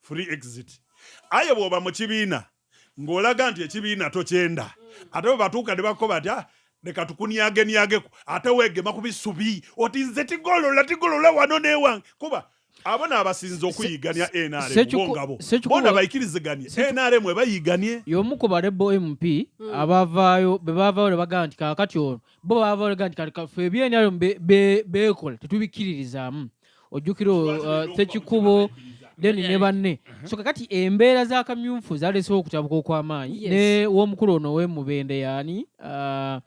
free exit aye bwoba mu kibiina ng'olaga nti ekibiina tokyenda ate bwe batuuka ne bakko batya ah, leka tukunyagenyageko ate weegema ku bisubi oti nze tigolola tigolola wano newange kuba abo nabasinza okuyigania nrmngabo bona bayikiriziganie nrm ebayiganie yomu ku barebo mp hmm. abavaayo bebavaayo nebagaa nti kakati ono bo bavaayo nti kati fe ebyenrm bekola tetubikkiririzaamu ojjukira uh, sekikubo deni ne banne so kakati embeera za kamyufu zalesewo okutabuka okw'amaanyi ne w'omukulu ono wemubende yaani uh,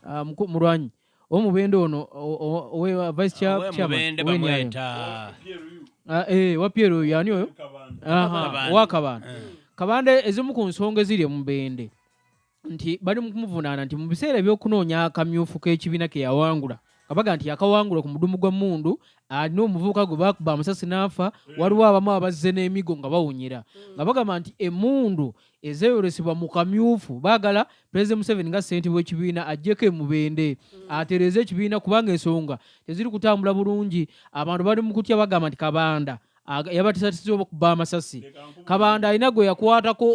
uh, mulwanyi omubende ono vice chairman ah, eh, wa pierre oyo yaani oyo wakabanda kabanda ezimu ku nsonga eziri omubende nti bali mu kumuvunaana nti mu biseera eby'okunoonya akamyufu k'ekibiina ke yawangula kabaga nti yakawangula ku mudumu gwa mundu alina omuvubuka gwe bakuba amasasi n'afa mm. waliwo abamu abazze n'emigo nga bawunyira mm. nga bagamba nti emundu ezeeyolesebwa mu kamyufu baagala pulezidenti museveni nga ssentebe w'ekibiina ajjeko emubende mm. atereeze ekibiina kubanga ensonga teziri kutambula bulungi abantu bali mu kutya bagamba nti kabanda yabatisatisibwa okuba amasasi kabanda alina gwe yakwatako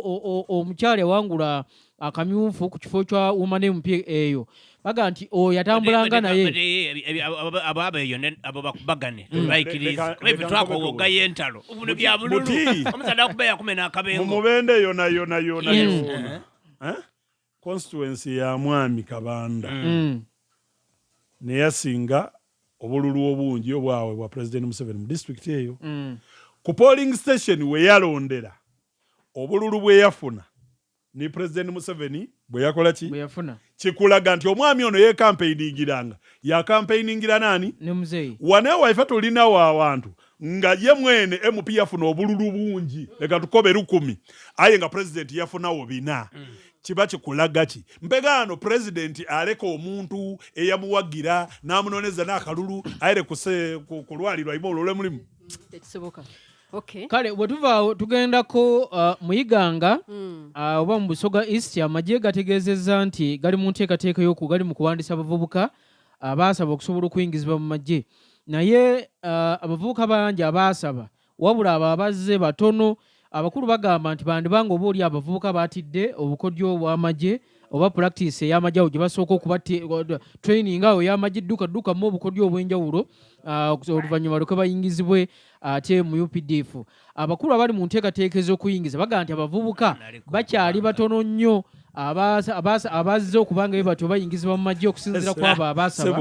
omukyala yawangula akamyufu ku kifo kya womane mupya eyo baga nti oyo atambulanga naye ababeeyo abo bakubagane mm. baikirizaebitwakowogayo entalo buno bya bululu omusadde akuba yakume n'akabengo mu mubende yonayonayona eh? eh? constituency ya mwami kabanda mm. neyasinga obululu obungi obwawe bwa president museveni mu district eyo mm. ku polling station weyalondera obululu bweyafuna ni president museveni bweyakola ki kikulaga nti omwami ono yekampeiningiranga yakampeiningira nani wanewa ife tulinawo awantu nga ye mwene MP yafuna obululu bungi leka tukobe lukumi aye nga president yafunawo bina mm. kiba kikulaga ki mpegaano president aleka omuntu eyamuwagira namunoneza nakalulu aere kulwalirwa ima olole mulimu tekisoboka Okay. kale bwetuvaawo tugendako uh, muyiganga mm. uh, oba mu busoga east amagye gategeezezza nti gali mu nteekateeka yoku gali mu kuwandisa abavubuka abaasaba okusobola okuyingizibwa mu magye naye abavubuka bangi abaasaba wabula abo abazze batono abakulu bagamba nti bandiba nga oba oli abavubuka batidde obukodyo obw'amagye oba practice ey'amagye awo gye basooka okuba training awo ey'amagye dduka ddukamu obukodyo obw'enjawulo oluvannyuma lweke bayingizibwe ate mu updf Abakulu abali mu nteekateeka ez'okuyingiza bagamba nti abavubuka bakyali batono nnyo abazze okuba nga batyo bayingizibwa mu magye okusinzira kwabo abasaba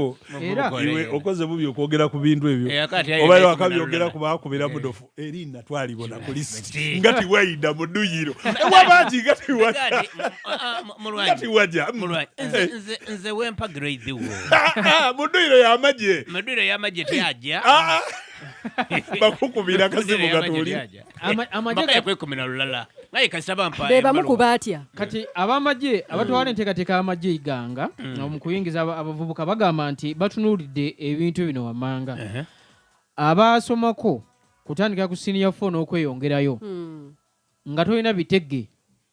okoze bubi okwogera ku bintu ebyo eh, oba wakabyogera ku bakubira eh. mudofu eri natwalibwa na kulisi nga tiwayida mu duyiro ewabaki nga tiwaja ah, ah, eh. nze wempa grade wo ah, mu duyiro yamagye mu duyiro yamagye tyajja bakukubira akazibu gatuli amajeekwekumina lulala naye kasaba mpa bebamu ku batya kati abamagye abatwala enteekateeka y'amagye iganga mm. mu kuyingiza abavubuka bagamba nti batunuulidde ebintu bino wammanga abaasomako kutandika ku siniya fo n'okweyongerayo hmm. nga tolina bitege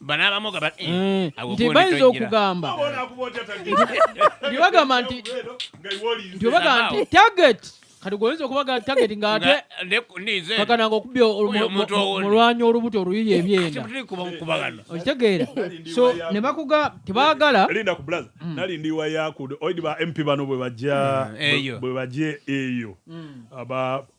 bano abamu gaba eh, mm. nti bayinza okugamba nti bagamba nti nti bagamba nti target kati gwoyinza okubaga target nga ate kakana nga okubya mulwanya olubuto oluyiye ebyenda okitegeera so ne bakuga tebagala linda ku blaza mm. nali ndi wa yakude oidi ba mp bano bwe bajja mm, bwe bajje eyo mm. aba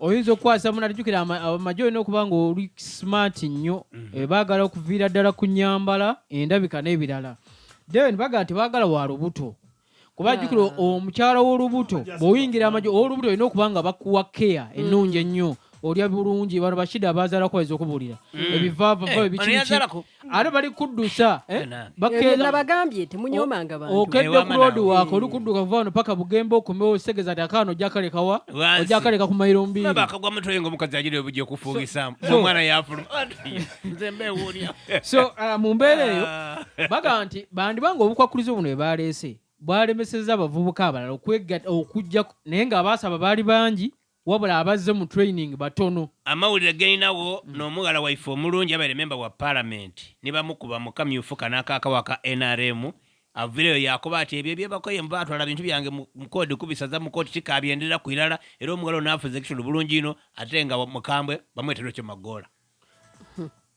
oyinza okukwasa muna tujukira amagye olina okuba nga oli smart nnyo mhm. eh, baagala okuviira ddala ku nyambala endabika n'ebirala then bagala tebagala wa lubuto kuba jjukira ah. omukyala w'olubuto bw'oyingira amagye ow'olubuto olina okuba nga bakuwa keya mm. ennungi ennyo olya bulungi bano bashida abazalako bayinza okubuulira mm. ebivaavava eh, ate bali kuddusa eh? nabagambye temunyomanga bantu okedde ku road wako oli kudduka kuva wano paka bugembe okomewo segeza ati akaana ojakalekawa ojakaleka ku mairo mbiri bakagwa mutwe nga omukazi ajira obuja okufuugisamu omwana yafuluma nze mbewuunya so uh, mu mbeera eyo ah. bagamba nti bandibanga obukwakulizo buno bwe baleese bwalemeseza abavubuka abalala okujja naye nga abaasaba baali bangi Wabula abazze mu training batono. Amawulire geninawo no mughala waife omulungi yabaire member wa parliament nibamukuba mukamyufu kano akakawa aka nrm avireyo yakoba ati ebyo ebyebakoye mbu batwala bintu byange mu kodi kubisaza mu koti tikabyenderera ku ilala era omughala ono afuze ekitundu bulungi ino ate nga mukambwe bamweta Recho Magoola.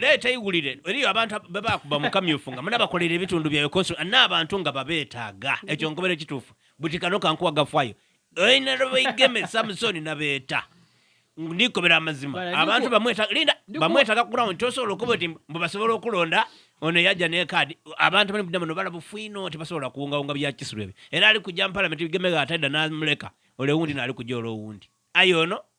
leeta iwulire eriyo abantu bebakuba mukamyufu nga munabakolera ebitundu byayo kosi ana abantu nga babeetaaga ekyo nkobera ekituufu buti kano kankuwa gafwayo oinalobaigeme samusoni nabeeta ndikobera amazima abantu bamwetalinda bamwetaga ku ground tosobola okuba ti mbu basobola okulonda ono yajja nekaadi abantu bali muddamuno balabufwino tebasobola kuwungawunga byakisirwa ebyo era ali kujja mu palamenti bigemega atadda namuleka olewundi naali kujja olwowundi aye ono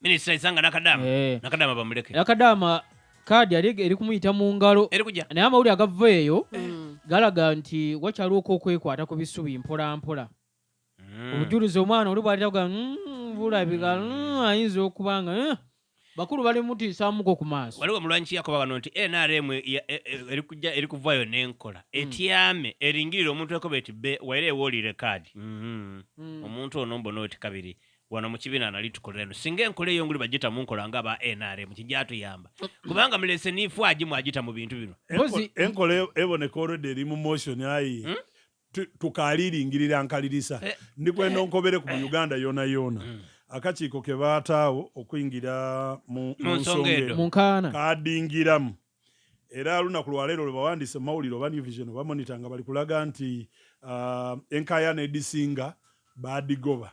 Minister Isanga Nakadama. Eh. Nakadama bamuleke. Nakadama kaadi yali eri kumuyita mu ngalo naye amawulire agava eyo mm. galaga nti wakyaliwo oku okwekwata ku bisubi mpolampola mm. obujulizi omwana oli bwalira ga mm, bulabika ayinza okuba nga eh, bakulu bali mutiisamuko ku maaso waliwo mulwanyi kiyakoba wano nti nrm e, e, eri kujja eri kuvaayo n'enkola etyame eringirira omuntu ekoba eti be waire ewoolire kaadi mm-hmm. omuntu ono mbona oti kabiri wano mukibina nali tukolera no singa enkola eyonguli bajita munkola nga ba nrm kijatuyamba kubanga mulese nifu aji mwajita mu bintu bino enkola eboneka already eri mu motion ayi hmm? tukaliringirira nkalirisa eh. ndikwenda onkobere ku mu uganda yona yona hmm. akakiiko ke baataawo okuyingira mu nsonga eno kadingiramu era lunaku lwaleero lwe bawandiise mu mawulire oba new vision oba monita nga bali kulaga nti uh, enkayana edisinga badigoba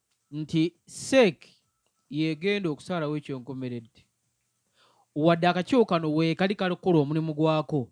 nti seek yegenda okusalawo ekyonkomeredde wadde akakiiko kano wekali kalikukola omulimu gwako